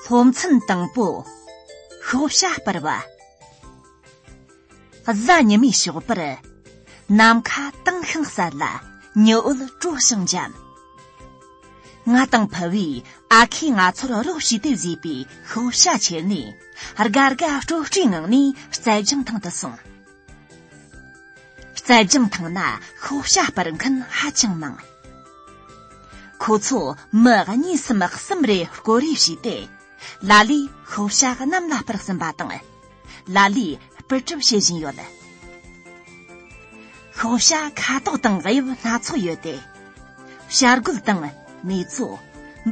ལྷོ་མཚམས་དང་པོ་ཤོག་བྱ་སྤར་བ་གཟའ་ཉི་མའི་ཞོགས་པར་ནམ་མཁའ་དྭངས་ཤིང་གསལ་ལ་ཉི་འོད་དཀྲོགས་ཤིང་འཇམ་ང་དང་ཕུ་བོས་ཨ་ཁས་ང་ཚོར་རོགས་བྱས་ཏེ་བཟོས་པའི་ཤོག་བྱ་ཁྱེར་ནས་དགའ་དགའ་སྤྲོ་སྤྲོའི་ངང་ནས་རྩལ་སྦྱང་ཐང་དུ་སོང། རྩལ་སྦྱང་ཐང་ན་ཤོག་བྱ་སྤར་མཁན་ཧ་ཅང་མང། ཁོ་ཚོ་མི་གཉིས་སམ་གསུམ་རེ་བསྐོར་རེས་བྱས་ཏེ་ལ་ལས་ཤོག་བྱ་གནམ་ལ་སྤར་ཟིན་པ་དང། ལ་ལས་སྤུས་གྲུབ་བྱེད་བཞིན་ཡོད། ཤོག་བྱ་ཁ་དོག་དང་དབྱིབས་སྣ་ཚོགས་ཡོད་དེ། བྱ་རྒོད་དང་མེ་བཙོ།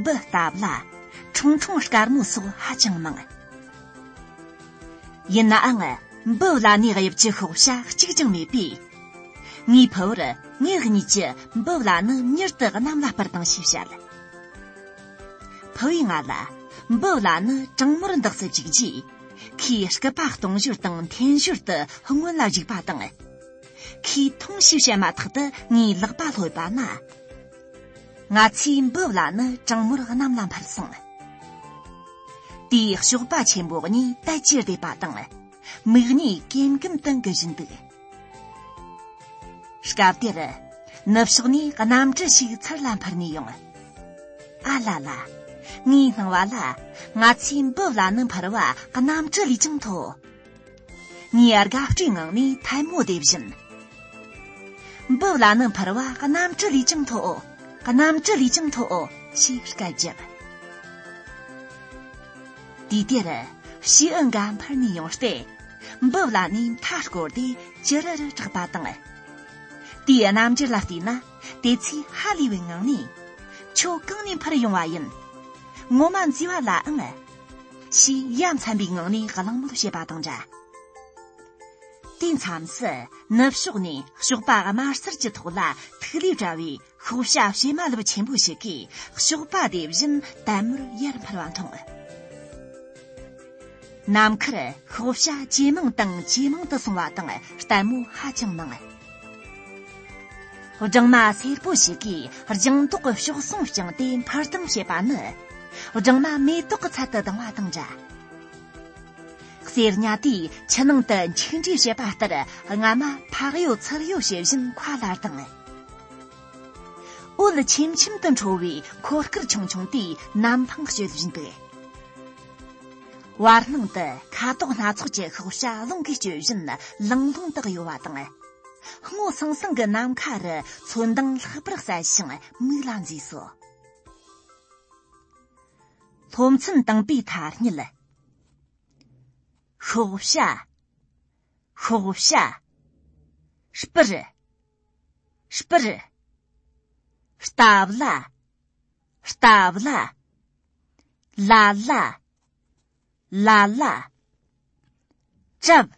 འབུ་སྟབས་ལ། ཁྲུང་ཁྲུང་དཀར་མོ་སོགས་ཧ་ཅང་མང། ཡིན་ནའང་འབུ་བླ་ནའི་དབྱིབས་ཀྱི་ཤོག་བྱ་གཅིག་ཀྱང་མེད་པས། ངེས་པར་ངེད་གཉིས་ཀྱིས་འབུ་བླ་ནི་མྱུར་དུ་གནམ་ལ་སྤར་དང་ཞེས་བཤད། ཕུ་བོས་ང་ལ་འབུ་བླ་ནི་གྲང་མོར་འདག་ས་བཅུག་རྗེས། ཁོས་སྐུད་པ་གཏོང་ཞོར་དང་འཐེན་ཞོར་དུ་སྔོན་ལ་གཞིགས་པ་དང། ཁོས་ཐུང་ཞིག་བཤད་མ་ཐག་ཏུ་ངའི་ལག་པ་ལྷོད་པ་ན། ང་ཚོའི་འབུབས་ལ་ནི་གྲང་མོར་གནམ་ལ་འཕར་སོང། དེའི་གཤོག་པ་ཆེན་པོ་གཉིས་དལ་གྱིས་བསྡད་པ་དང། མིག་གཉིས་ཀེམ་ཀེམ་དུ་འགུལ་བཞིན་འདུག། སྐབས་དེར་ནུབ་ཕྱོགས་ནས་གནམ་གྲུ་ཞིག་ཚུར་ལ་འཕུར་ནས་ཡོང། ཨ་ལ་ལ། ངའི་སྣང་བ་ལ་ང་ཚོའི་འབུ་བླ་ནི་འཕུར་བ་གནམ་གྲུ་ལས་ཀྱང་མཐོ། ངའི་དགའ་སྤྲོའི་ངང་ནས་ཐལ་མོ་རྡེབ་བཞིན། འབུ་བླ་ནི་འཕུར་བ་གནམ་གྲུ་ལས་ཀྱང་མཐོ། གནམ་གྲུ་ལས་ཀྱང་མཐོ་ཞེས་སྐད་བརྒྱབ། དུས་དེར་ཕྱིའི་ཨི་འགའ་འཕུར་ནས་ཡོང་སྟེ། འབུབས་ལ་ནས་མཐའ་བསྐོར་ཏེ་ཅི་རི་རི་གྲགས་པ་དང། དེའི་རྣམ་འགྱུར་ལ་བལྟས་ན་དེ་ཚོས་ཧ་ལས་པའི་ངང་ནས། ཁྱོད་གང་ནས་འཕུར་ཡོང་བ་ཡིན། ངོ་མ་འཛུལ་བ་ལའང། ཞེས་ཡ་མཚན་པའི་ངང་ནས་གླེང་མོལ་བྱེད་པ་དང་འདྲ། དུས་མཚམས་སུ་ནུབ་ཕྱོགས་ནས་ཞོགས་པ་དམར་སེར་གྱི་ཐོག་ལ་ཐིག་ལེ་བཀྲ་བའི་ཤོག་བྱ་བྱེ་མ་ལོ་ཆེན་པོ་ཞིག་གིས་ཞོགས་པ་དེ་བཞིན་དལ་མོར་ཡར་འཕར་བ་མཐོང། ནམ་མཁར་ཤོག་བྱ་ཇེ་མང་དང་ཇེ་མང་དུ་སོང་བ་དང་ལྟད་མོ་ཧ་ཅང་མང། སྦྲང་མ་སེར་པོ་ཞིག་གིས་ལྗང་མདོག་གི་ཤོག་ཟུང་བཅིངས་ཏེ་འཕུར་ལྡིང་བྱེད་པ་ནི་སྦྲང་མ་མེ་ཏོག་གི་ཚལ་དུ་ལྡིང་བ་དང་འདྲ། སེར་ཉྭ་དེས་ཕྱི་ནང་དུ་མཆིན་འདྲེས་བྱེད་པ་ལྟར་རྔ་མ་ཕག་ཡོད་ཚུར་ཡོད་བྱེད་བཞིན་མཁའ་ལ་ལྡིང། དབུ་ལ་ཆེམ་ཆེམ་དུ་འཕྲོ་བའི་འཁོར་སྐར་ཆུང་ཆུང་དེ་གནམ་ཐང་བསྐྱོད་བཞིན་འདུག། བར་སྣང་དུ་ཁ་དོག་སྣ་ཚོགས་ཀྱི་ཤོག་བྱ་རླུང་གིས་བསྐྱོད་བཞིན་ལིང་ལིང་དུ་གཡོ་བ་དང། སྔོ་སང་སང་གི་ནམ་མཁའ་རུ་ཚོན་མདངས་ལྷག་པར་གསལ་ཞིང་མིག་ལ་མཛེས་སོ། སློབ་ཚན་དང་པོའི་ཐ་སྙད། ཤོག་བྱ། ཤོག་བྱ། སྤུར། སྤུར། རྟ་བླ། རྟ་བླ། ལ་ལ། ལ་ལ། བྲབ།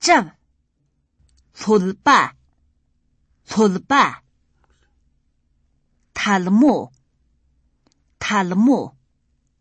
བྲབ། ལྷོད་པ། ལྷོད་པ། ཐལ་མོ། ཐལ་མོ།